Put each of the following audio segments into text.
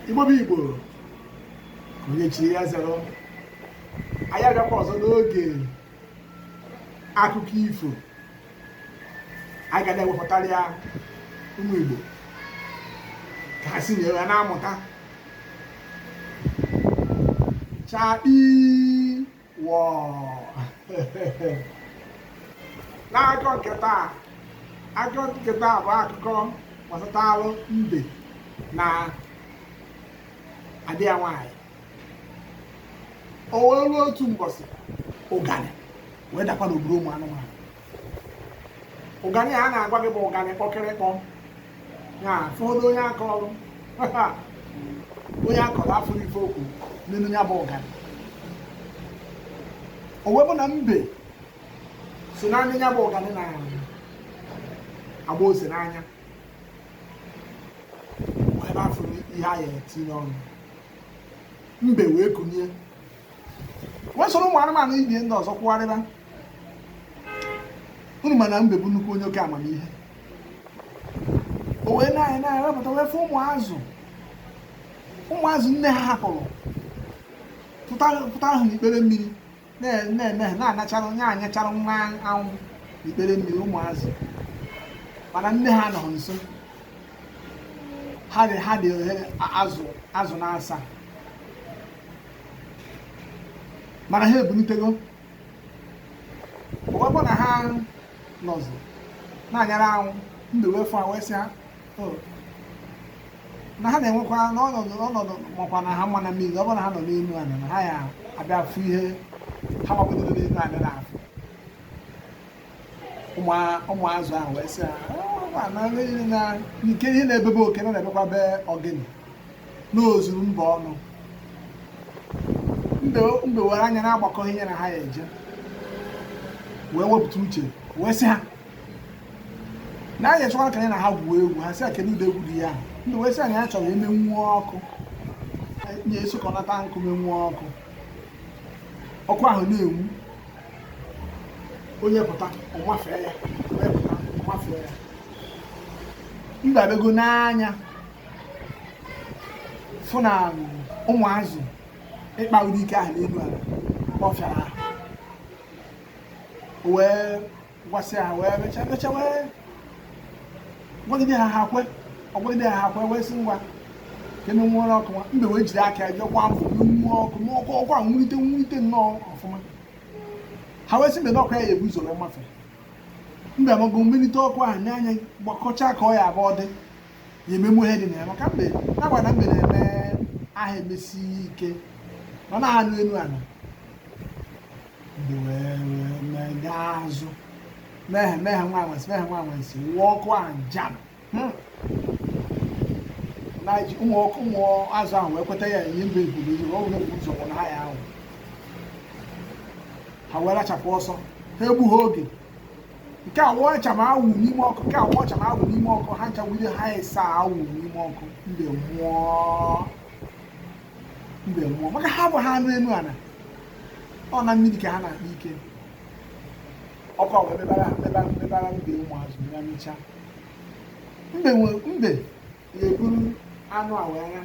igbo bụ igbo onye chiri ya zere o anyị abịakwa ọzọ n'oge akụkọ ifo anyị ga na-ewepụtara ya ụmụ igbo ka ha si na ya na-amụta chakpii n'akụkọ nke taa akụkọ nke taa bụ akụkọ gbasatara mbe na adịya nwanyị o wee ruo otu mbọsị ụganị wee dakwa n'obodo ụmụ anụmanụ ụganị a na-agwa gị bụ ụganị kpọkịrịkpọ ya fọdụ onye akọrọ onye akọrọ afụrọ ife okwu n'ime ya bụ ụganị o wee bụ na mbe sị na nya bụ ụganị na-agba ose n'anya ebe afụrọ ihe a ya-etinye n'ọnụ mbe wee kunie wee soro ụmụ anụmanụ ibie ndị ọzọ kwụgharịba unu ma na mbe bụ nnukwu onye oke amamihe o wee na-anya na-anya wee pụta wee fụ ụmụ azụ ụmụ azụ nne ha hapụrụ pụta ahụ n'ikpere mmiri na-anyachara nwa anwụ n'ikpere mmiri ụmụ azụ mana nne ha anọhọ nso ha dị ha dị obere azụ azụ naasaa mana ha ebulitego ọ bụkwa na ha nọzi na-anyara anwụ mbe wee fụ wee sị ha oh. na ha na-enwekwa n'ọnọdụ ọnọdụ makwa na ha mma na mmiri ọ bụrụ na ha nọ n'elu ala na ha ya abịa fụ ihe ha gbapụtara n'elu ala na-afụ ụmụazụ ahụ wee sị na nke ihe na-ebe be oke na na-ebekwa be ogini na o zuru mba ọnụ mbe were anya na-agbakọ ihe na ha ya eje wee wepụta uche wee sị ha na nya chọkwara ka nya na ha gwuo egwu ha sị ya kedu ụdị egwu dị ya mbe wee sị ha nya chọrọ imenwu ọkụ nya esokọnata nkụ menwuo ọkụ ọkụ ahụ na-enwu onye pụta ọ mafee ya onye pụta ọ mafee ya mbe abego n'anya fụ na ụmụazụ ịkpa ụdị ike ahụ n'elu ala ọ fịara ha wee gwasị ha wee mechaa mechaa wee gwagide ha ha kwe ọ gwagide ha ha kwe wee sị ngwa ka e menwuo ọkụ nwa mbe wee jiri aka ya jee kwa mbụ munwuo ọkụ n'ọkụ ọkụ a nwulite nwulite nnọọ ọfụma ha wee sị mbe na ọ kwa ya ya-ebu ụzọ mafe mbe amago nelite ọkụ ahụ nye anya gbakọchaa ka ọ ya abụọ dị ya ememu ihe dị na ya maka mbe na-agwa na mbe na-eme aha emesi ike ọ na-anụ elu ala mbe wee wee mee gaa azụ mehe mehe nwa anwansi mehe nwa anwansi wụọ ọkụ a jam hmm. na ji ụmụ ọkụ ụmụ azụ ahụ wee kweta ya ihe mbe ebubezi ọ bụrụ ụzọ kwụ na ha ya ahụ ha wee rachapụ ọsọ ha egbuhọ oge nke a wụọ ọcha ma awụ n'ime ọkụ nke a wụọ ọcha ma awụ n'ime ọkụ ha ncha wụde ha ịsaa wụ n'ime ọkụ mbe mmụọ mbe mmụọ maka ha abụhọ anụ elu ala ọ na mmiri ka ha na-akpa ike ọkụ a wee mịbara mịbara mịbara mbe ụmụ azụ ya mịchaa mbe mbe ga-eburu anụ a wee ya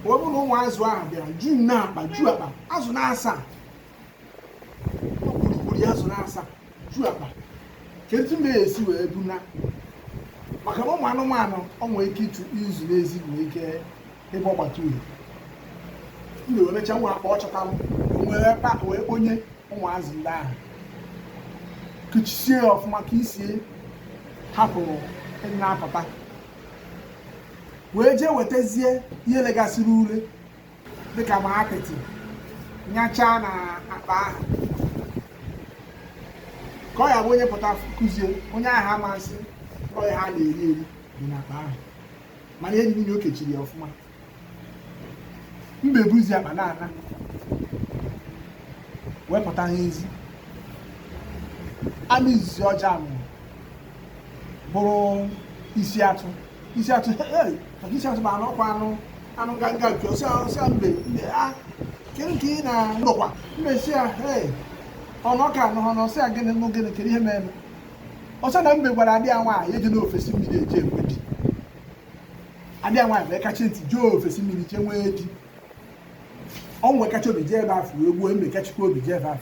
o wee bụrụ na ụmụ azụ ahụ bịara juu n'akpa juu akpa azụ na-asaa okpurukpuru azụ na-asaa ju akpa kedu etu mbe ya-esi wee buna maka na ụmụ anụmanụ ọ nwere ike ịtụ izu n'ezi nwee ike ebe ọ gbata uhie mbe wee mechaa nwa akpa ọ chọtalụ wee pa wee kponye ụmụ azụ ndị ahụ kechisie ya ọfụma ka isi ya hapụ ịna-apụta wee jee wetazie ihe legasịrị ule dịka ma apịtị nyachaa na akpa ahụ ka ọ ya-abụ onye pụtakwazie onye ahụ ama sị ọ ihe a na-eri eri dị na akpa ahụ mana ime ime ya o kechiri ya ọfụma mbe buzi akpa na-ana wee pụta n'ezi anụ izizi ọ ya-ahụ bụrụ isi atụ isi atụ maka isi atụ bụ anụ ọkwa anụ anụ nganga nke ọsị ahụ sị mbe mbe a kee nke ị na-anọkwa mbe sị ya ee ọnụ ọka anụhụ na ọ sị ya gịnị nụ gịnị kedu ihe mere ọ sị na mbe gwara ada ya nwaanyị ejena ofesi mmiri jee nwee di ada ya nwaanyị wee kachie ntị jee ofesi mmiri jee nwee di ọnwụ wee kachie obi jee ebe ahụ wee gbuo mbe kachikwa obi jee ebe ahụ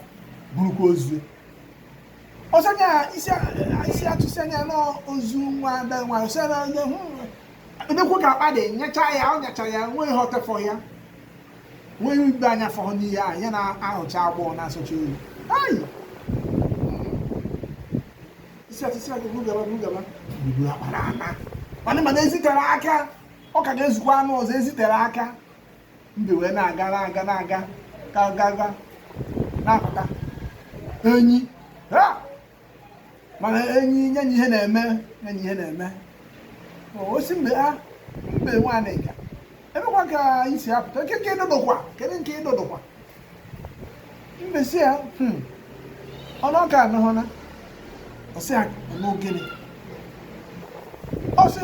burukwa ozu ọ sị nya isi isi atụ sị a nya na ọ ozu nwa ada nwa ọsọ na onye hụ nekwuo ka akpa dị nyacha ya ọ nyachara ya nwee ihe o tefọ ya nwee ihe ugbo anya fọrọ n'ihe a ya na-ahụcha agbọọ na-asọcha oyi ayi isi atụ sị a nya buru gaba buru gaba buru akpa na-ana mana mana ezi tere aka ọ ka ga-ezukwa anụ ọzọ ezi tere aka mbe wee na-aga na-aga na-aga ka gaga na-apụta enyi mana enyi nye na ihe na-eme nye na ihe na-eme ọ sị mbe ha mbe nwa anịga ebekwa ka i si apụta nke nke ịdodokwa kedu nke ịdodokwa mbe sị ya hmm, ọnụ ọka anụhọ na ọ sị ya n'ogene ọ sị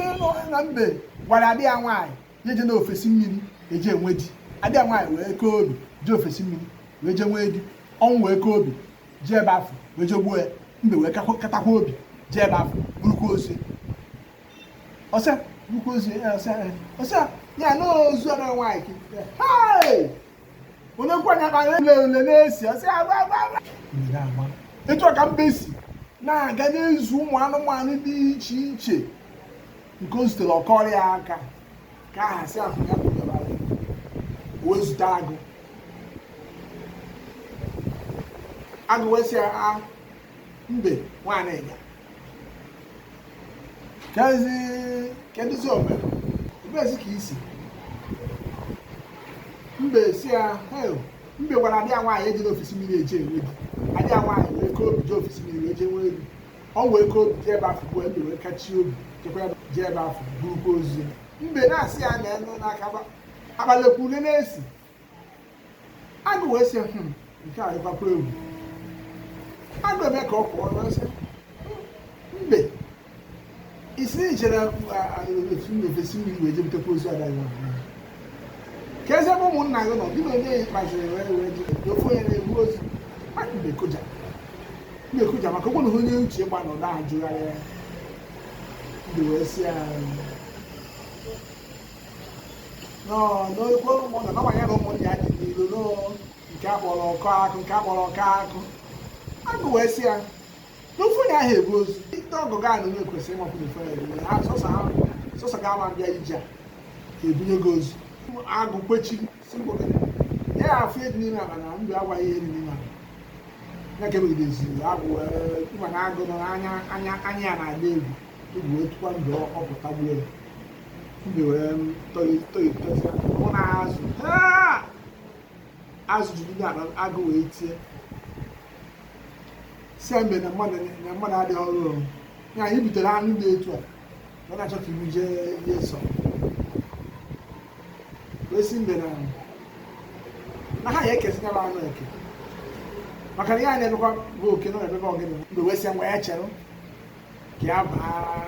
na mbe gwara ada ya nwaanyị ya ejena ofesi mmiri eje enwe di ada ya nwaanyị wee kaa obi jee ofesi mmiri wee jee nwee di ọnwụ wee kaa obi jee ebe afụ wee jee gbuo ya mbe wee katakwa obi jee ebe afụ burukwa ozu ọsịa burukwa ozu ọsịa ya na ozu ada nwaanyị onye nkwanye akpa ule ule na-esi ọsịa agba agba agba etu a ka mbe si na-aga na-ezu ụmụ anụmanụ dị iche iche nke o zutere ọ kọọrọ ya aka ka aha si ahụ ya kpụnyere agụ wee zute agụ agụ wee sị a mbe nwa anịga kezi kedụzi o mere ebezi ka i si mbe sị ya hel mbe gwara ada ya nwaanyị ejena ofesi mmiri eje enwe di ada ya nwaanyị wee kaa obi je ofesi mmiri wee jee nwee di ọnwụ wee kaa obi jee ebe afụ gbuo ya mbe wee kachie obi chekwa ya jee ebe afụ burukwa ozu ya mbe na-asị ya na enu n'aka abalịkwa ule na-esi agụ wee sị hmm, nke a dịkwakwa egwu agụ eme ka ọ pụọ ọ sị mbe ị sị na i jere etu n'ofesi mmiri wee je butekwa ozu ada gị ka eze bụ ụmụnna gị nọ gị na onye ya kpaziri wee wee ji ofu onye na-ebu ozu mmadụ na-ekoja na-ekoja maka ọ bụrụ na onye uche gba nọ na-ajụgharị ya mbe wee sị ya n'okwu ụmụnna na nwanyị na ụmụnna ya dị n'ilu nke akpọrọ ọkọ akụ nke akpọrọ ọkọ akụ agụ wee sị ya n'ofu onye anahọ ebu ozu ndị ọgọ gị anụ nwe kwesịrị ịmapụ na ifere ebunye ha sọsọ ha sọsọ ga ama bịa ije a ebunye gị ozu agụ kwechiri sị mgbọ gị ya ya afụ ihe dị n'ime akpa na mbe agwaghị ihe dị n'ime akpa ya ka emegideziri agụ ị ma na agụ nọ anya anya anya ya na-adị egwu egwu wee tụkwa mbe ọ pụta gbuo ya mbe wee tọghị tọghị tọghị mụ na azụ azụ juru n'ime akpa agụ wee tie sị mbe na mmadụ na mmadụ adịghị ọrụ ọrụ ya anyị butere anụ dị etu a ọ na-achọ ka i bu jee ihe nsọ wee sị mbe na na ha ya ekezi nya bụ anụ eke maka na ihe a na-emekwa bụ oke na emebe ọ gịnị mbe wee sị ya ngwa ya chere ka ya baa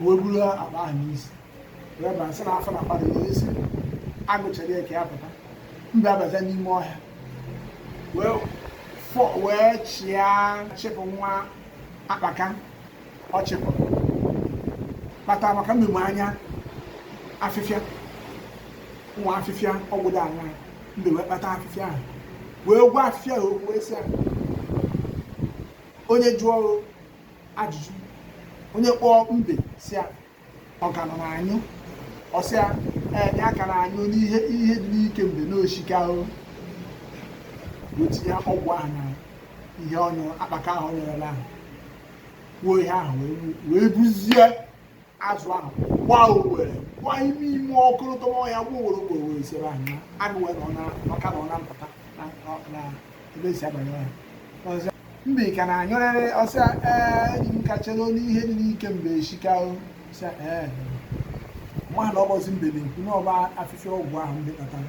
o wee buru akpa ahụ n'isi wee bara sị na afọ na-akpa ya sị agụ chere ya ka ya pụta mbe abazie n'ime ọhịa wee fọ wee chịa chịpụ nwa akpaka ọ chịpụrụ kpata maka mbe ma anya afịfịa nwa afịfịa ọgwụ do anya mbe wee kpata afịfịa ahụ wee gwa afịfịa ahụ okwu wee sị ya onye jụọ ajụjụ onye kpọọ mbe sị ya ọ ka nọ na-anyụ ọ sị ya ee ya ka na-anyụ n'ihe ihe dị n'ike mbe na o shika o wee tinye ọgwụ ahụ na ihe ọnyụ akpaka ahụ nyerela ahụ kwuo ihe ahụ wee buzie azụ ahụ gbaa owere gbaa ime ime ọkụlụtọ ọhịa gbuo owere ugbo owere isere ahụ na agụ wee nọ na maka na ọ na mpụta na na ebe e si abanye ọhịa ọ sị mbe ka na-anyụrịrị ọ sị ya ee enyi m ka chere na ihe dị n'ike mbe eshika ọ sị ya ee amaghị na ọ bụzi mbe na-ekwu na ọ bụ afịfịa ọgwụ ahụ mbe kpatara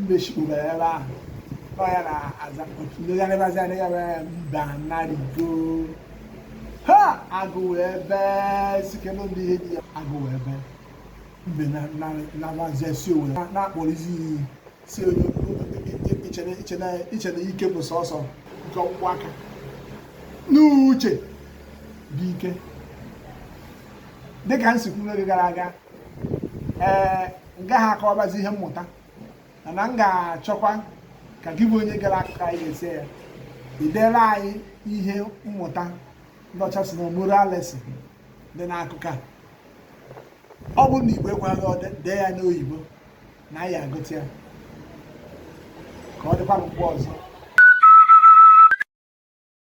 mbe chikpuru ya ebe ahụ ọ ya na-aza oku legharịbazi adịghị ebe mbe anarigo ha agụ ebe sikelu ndị ihe dị ya agụ ebe mbe na-abaziesi o wee na-akpọrọzi iyi sị onye echena ike bụ sọsọ nke ọkpụkpụ aka na uche bụ ike dịka m si kwuo n'oge gara aga ee m gaghị akọwabazi ihe mmụta mana m ga-achọkwa ka gị bụ onye gere akụkọ anyị gesie ya i dere anyị ihe mmụta ndị ọcha sị na moral lesson dị n'akụkọ a ọ bụrụ na igbo ekweghị odide dee ya n'oyibo na anyị agụta ya ka ọ dịkwa mgbe ọzọ